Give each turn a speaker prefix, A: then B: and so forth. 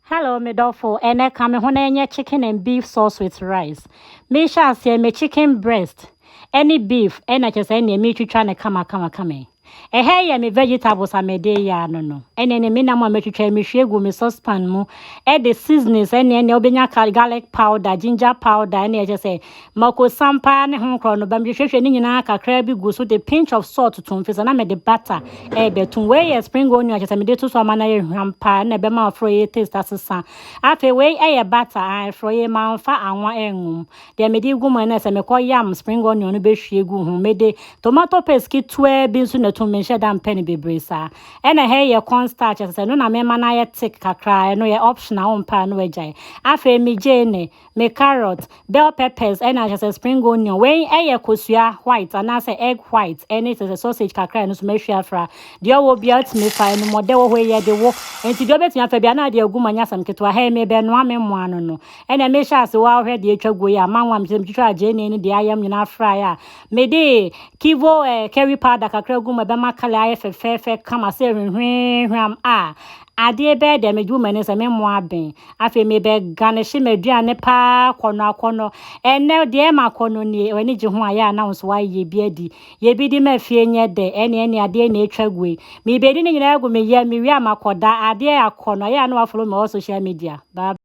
A: Hello me dɔfo, ɛnɛ ka me ho na ɛnyɛ chicken and beef sauce with rice. Mehyɛ aseɛ me chicken breast ɛne beef ɛna kyɛ sɛ ɛneɛ metwitwa no kama kama kama yi. Ɛhɛ yɛ me vegetables a mede yɛ ano no. Ɛneɛ ne me nam a metwitwa yi mehwie gu me saucepan mu ɛde seasonings ɛne ɛneɛ wobɛnya ka garlic powder, ginger powder ɛneɛ kyɛ sɛ Makosiam paa ne ho korɔ no ba mehwehwɛhwɛ ne nyinaa kakraa bi gu so de pinch of salt tom firi sɛ na mede butter ɛrebɛtom wei yɛ spring onion kyɛ sɛ mede to so ama no ayɛ hwam paa ɛna ɛbɛma forɔyɛ taste asesa afei wei ɛyɛ butter a forɔyɛ manfa anwa ɛngum deɛ mede gu mu ɛna sɛ mekɔ yam spring onion no bɛhwie gu ho mede tomato paste ketewa bi nso na tom menhyɛ da mpɛ no bebree saa ɛna hɛ yɛ corn starch ɛsɛ sɛ no na mema no ayɛ thick kakraa ɛno yɛ optional wo mpɛ a no agyae afei megye ne Me carrot, bell peppers ɛna kyɛ sɛ spring onion. Wei ɛyɛ kosua white anaasɛ egg white ɛne kyɛ sɛ sausage kakra ɛno nso mahwie afra. Deɛ ɔwɔ biara tumi fa ɛnumɔdɛ wɔ hɔ ɛyɛ de wo. Nti deɛ ɔbɛtumi afa biara na ade agu mu ɛnyɛ asɛm ketewa. Hɛn mebɛnoa me mmoa no no. Ɛna mehyɛ ase wo ara hwɛ deɛ atwa guo yi a manwa mekyɛ sɛ metwitwaa gyeene ne deɛ ayam nyinaa fraeɛ a mede kivo eh curry powder kakra gu mu ɛbɛma colour ayɛ fɛfɛɛfɛ kama sɛ hwehwee hwam a Adeɛ bɛɛ dɛ medwo m'ani sɛ me mmoa abɛn. Afei mebɛgane hye m'aduane paa akɔnnɔ akɔnnɔ. Ɛnnɛ deɛ ɛma akɔnnɔ nie, w'ani gye ho a yɛ a na wo nso woayeyɛ bi adi. Yɛ bi di ma fie nyɛ dɛ, ɛne ɛne adeɛ na ɛtwa gu ei. Mebɛdi ne nyinaa agu me yam, mewie a makɔda. Adeɛ akɔnnɔ, yɛ a na wafolo me all social media. Bye bye.